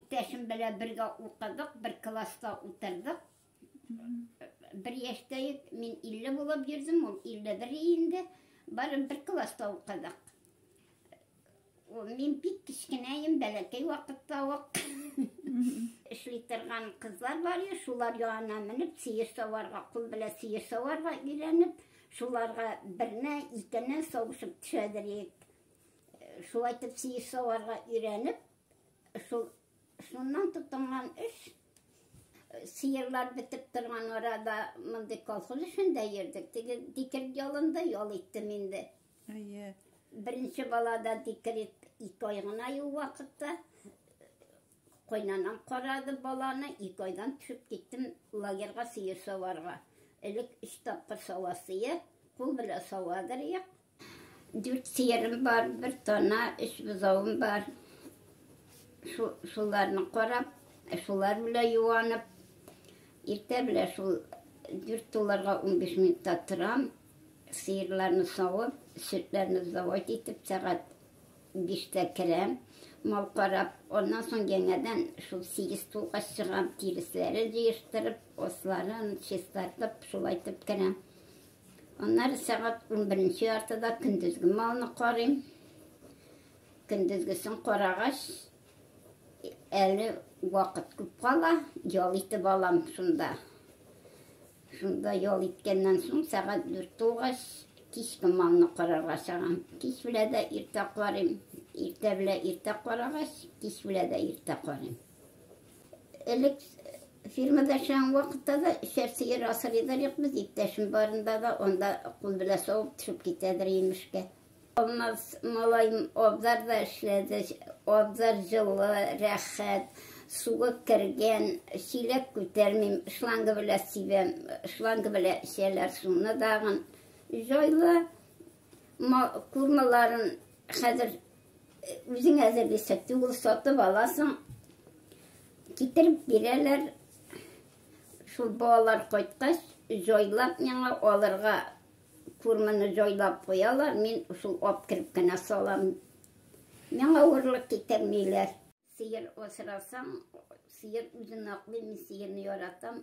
Иптәшем белән бергә укыдык, бер класста утырдык. Бер яшьтә ек, мин 50 булып йөрдем, ул 51 инде. Бары бер класста укыдык. Мин бик кечкенәем, бәләкәй вакытта ук эшли торган кызлар бар иде, шулар янына менеп, сыер саварга, кул белән сыер саварга өйрәнеп, шуларга берне, икене савышып төшәдер идек. Шулай итеп сыер саварга өйрәнеп, Шул шуннан тотынган эш сыерлар бетеп торган арада мондый колхоз эшендә йөрдек. Теге дикер ялында ял иттем инде. Әйе. Беренче балада дикер ике ай гына юл вакытта кайнанам карады баланы, ике айдан төшеп киттем лагерьга сыер саварга. Элек өч тапкыр савасые, кул белән савадыр як, Дүрт сыерым бар, бер тана, өч бозавым бар. Шуларны карап, шулар белән юанып, иртә белән шул дүрт туларга унбиш минутта торам, сыерларны савып, сөтләрне завод итеп, сәгать биштә керәм, мал карап, аннан соң яңадан шул сигез тулга чыгам, тиресләрен җыештырып, асларын чистартып, шулайтып керәм. Аннары сәгать унберенче яртыда көндезге малны карыйм. Көндезгесен карагач, әле вакыт күп кала, ял итеп алам шунда. Шунда ял иткәннән соң сәгать дүрт тулгач, кичке малны карарга чыгам. Кич белә дә иртә карыйм. Иртә белә иртә карагач, кич белә дә иртә карыйм. Элек фирмада эшләгән вакытта да эчәр сыер асырыйдыр юк без иптәшем барында да анда кул белән савып төшеп китәдер имешкә. Алмаз малаем абзарда эшләде, абзар җылы, рәхәт, суы кергән, чиләк күтәрмим, шланга белән сибәм, шланга белән эчәләр суны дагын. Җайлы курмаларын хәзер Үзең әзерлисә түгел, сатып аласың. Китереп бирәләр. Шул балалар кайткач, җайлап миңа алырга курманы җайлап куялар, мин шул ап кереп кенә салам. Миңа авырлык китермиләр. Сыер асрасаң, сыер үзен аклый, мин сыерны яратам.